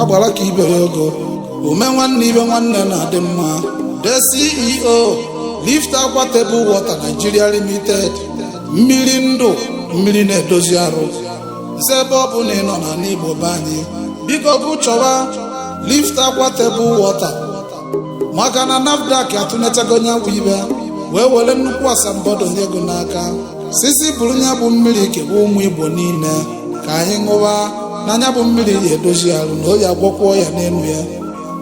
agbara ka ibe ya ogo ome nwanne ibe nwanne na-adị mma the ceo lift aqua table water nigeria limited mmiri ndụ mmiri na-edozi arụ nse ebe ọ bụna ị nọ na n'igbo be anyị biko bụ chọwa lift aqua table water maka na nafdac atụnechago nya bụ ibe wee were nnukwu asambodo nye gị n'aka sị sị buru nya bụ mmiri kebe ụmụ igbo niile ka anyị ṅụwa na nya bụ mmiri ya edozi arụ na ọ ya-agwọkwa ọya n'elu ya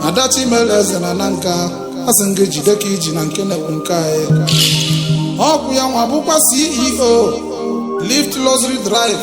adachimereze na nanka asị m gị jide ka i ji na nke na-ekwu nke anyị ọkwa ya nwa bụkwa ceo lift luxury drive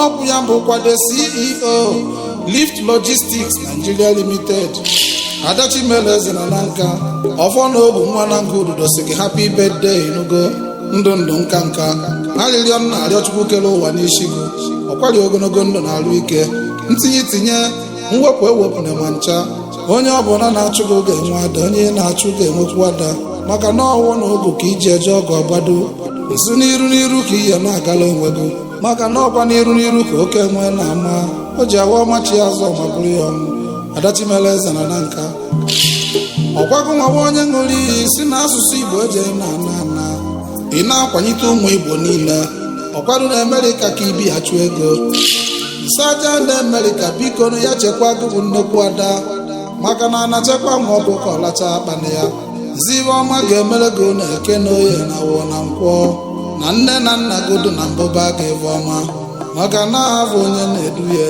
ọ bụ ya bụkwa the ceo lift logistics nigeria limited adachimereze na nanka ọfọ na ogu nwa nanka ududo sị gị happy birthday ị nụgo ndụ ndụ nka nka arịrịọ m na-arịọ chukwu kere ụwa n'isi gị ọkwari ogologo ndụ na arụ ike ntinye tinye mwepụ ewepụna ma ncha onye ọbụla na-achụ gị ga-enwe ada onye ị na-achụ ga-enwekwu ada maka na ọfọ na ogu ka e ji eje ọgụ agbado nso n'iru n'iru ka ihe na-agala onwe gị maka na ọkwa n'iru n'iru ka oke enwe na-ama o ji awa ọ machi azụ ma bụrụ ya ọnwụ adachimeleze na nanka ọkwa gị nwa bụ onye ṅụrụ iyi sị na asụsụ igbo eji na ana ana ị na-akwanyite ụmụ igbo niile ọkwado na amerịka ka i bi achụ ego saja na amerịka biko nụ ya chekwa gị bụ nnekwu ada maka na a na-echekwa nwa ọkụkọ ọ lacha akpana ya zibe ọma ga-emere gị na eke na oye na afọ na nkwọ na nne na nna gị dị na mbụba aga ebe ọma maka na ha bụ onye na-edu ya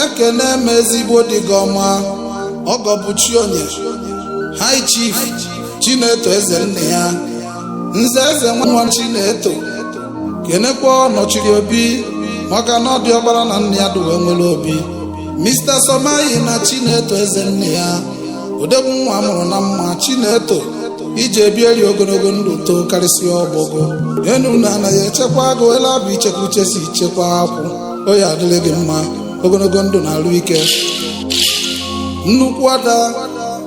ekene m ezigbo di gị ọma ọgọ bụ chi onye high chief chineto eze nna ya nze eze nwa chineto kenekwa ọnọchiri obi maka na diọkpara na nna ya dụwe nwere obi Mr. Somayina Chineto eze nna ya odogwu nwa a mụrụ na mma Chineto i je-ebiri ogologo ndụ too karịsịa ọgbọ gị enu na ana ya-echekwa gị ele abụ ichekwa uche si echekwa akụ ọ ya-adịrị gị mma ogologo ndụ na arụ ike nnukwu ada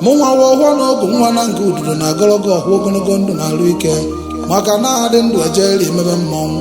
mụnwa ọfọ na ogu nwa nanka ududo na-agọrọ gị ọfọ ogologo ndụ na arụ ike maka na a dị ndụ ejeri emume mmọnwụ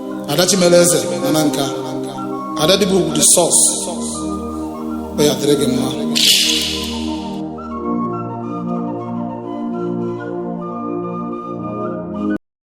adachimeleze na nanka ada di bụ ugwu the source ọ ya-adịrị gị mma